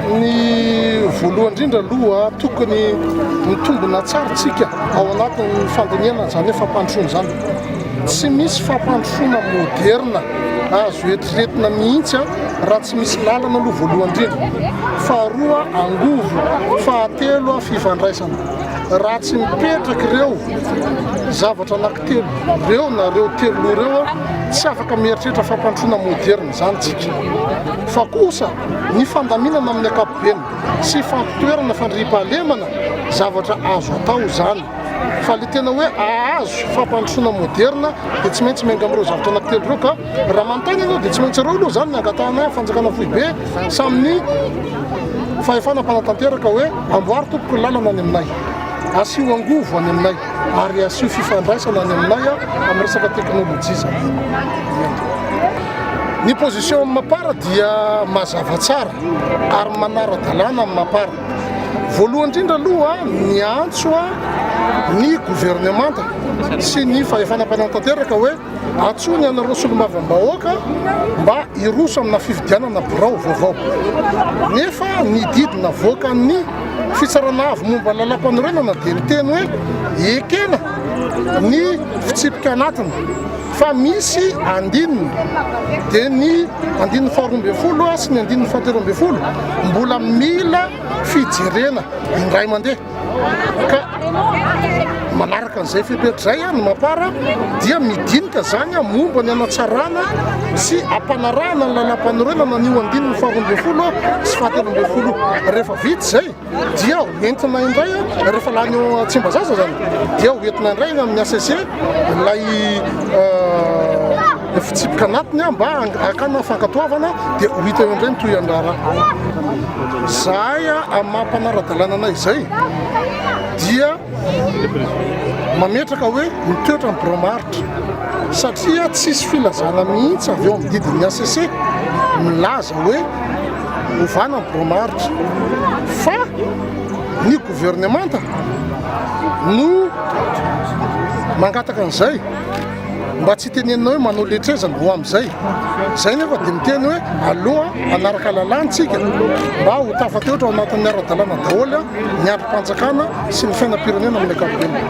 Ny voalohany indrindra aloha tokony mitombina tsara tsika ao anatin'ny fandinihana izany hoe fampandrosoana izany. Tsy misy fampandrosoana moderina azo eritreretina mihitsy raha tsy misy lalana aloha voalohany indrindra. Faharoa angovo, fahatelo fifandraisana. Raha tsy mipetraka ireo zavatra anankiray Telo reo na reo telo loha reo a, tsy afaka mieritreritra fampandrosoana moderina izany tsika, fa kosa ny fandaminana amin'ny ankapobeny sy fampitoerana fandriampahalemana, zavatra azo atao izany, fa le tena hoe ahazo fampandrosoana moderina dia tsy maintsy miainga amin'ireo zavatra anankitelo ireo ka raha manontany ianao dia tsy maintsy ireo aloha izany ny angatahana fanjakana foibe sy amin'ny fahefana mpanatanteraka hoe amboary tompoko ny lalana any aminay, asio angovo any aminay. ary asio fifandraisana any aminay amin'ny resaka teknolojia izany. Ny position amin'ny mapara dia mazava tsara ary manara-dalàna amin'ny mapara. Voalohany indrindra aloha ny antso ny governemanta sy ny fahefana mpanantanteraka hoe Antsoy ny anareo solombavambahoaka mba hiroso amina fifidianana birao vaovao. Nefa ny didy navoakan'ny Fitsarana Avo momba ny Lalàmpanorenana dia niteny hoe ekena ny fitsipika anatiny fa misy andininy, dia ny andininy faharoa ambin'ny folo sy ny andininy fahatelo ambin'ny folo mbola mila fijerena indray mandeha. Manaraka an'izay fepetra izay an, Mapara dia midinika izany an momba ny hanatsarana sy hampanarahana ny lalam-panorenana an'io andininy faharoa ambin'ny folo sy fahatelo ambin'ny folo. Rehefa vita izay dia hoentina indray an, rehefa lany eo Tsimbazaza izany dia hoentina indray any amin'ny HCC ilay Fitsipika anatiny aho mba hakana fankatoavana dia ho hita eo indray ny tohin'ny raharaha. Izahay amin'ny maha mpanara-dalàna anay izay dia mametraka hoe mitoetra ny birao maharitra satria tsisy filazana mihitsy avy eo amin'ny didin'ny hcc milaza hoe ovana ny birao maharitra fa ny governemanta no mangataka an'izay. mba tsy iteneninao hoe manao letra aiza ny voa amin'izay. Izay nefa dia miteny hoe aloha hanaraka lalàntsika mba ho tafateotra ao anatin'ny ara-dalàna daholo ny andrim-panjakana sy ny fiainam-pirenena amin'ny ankapobeny.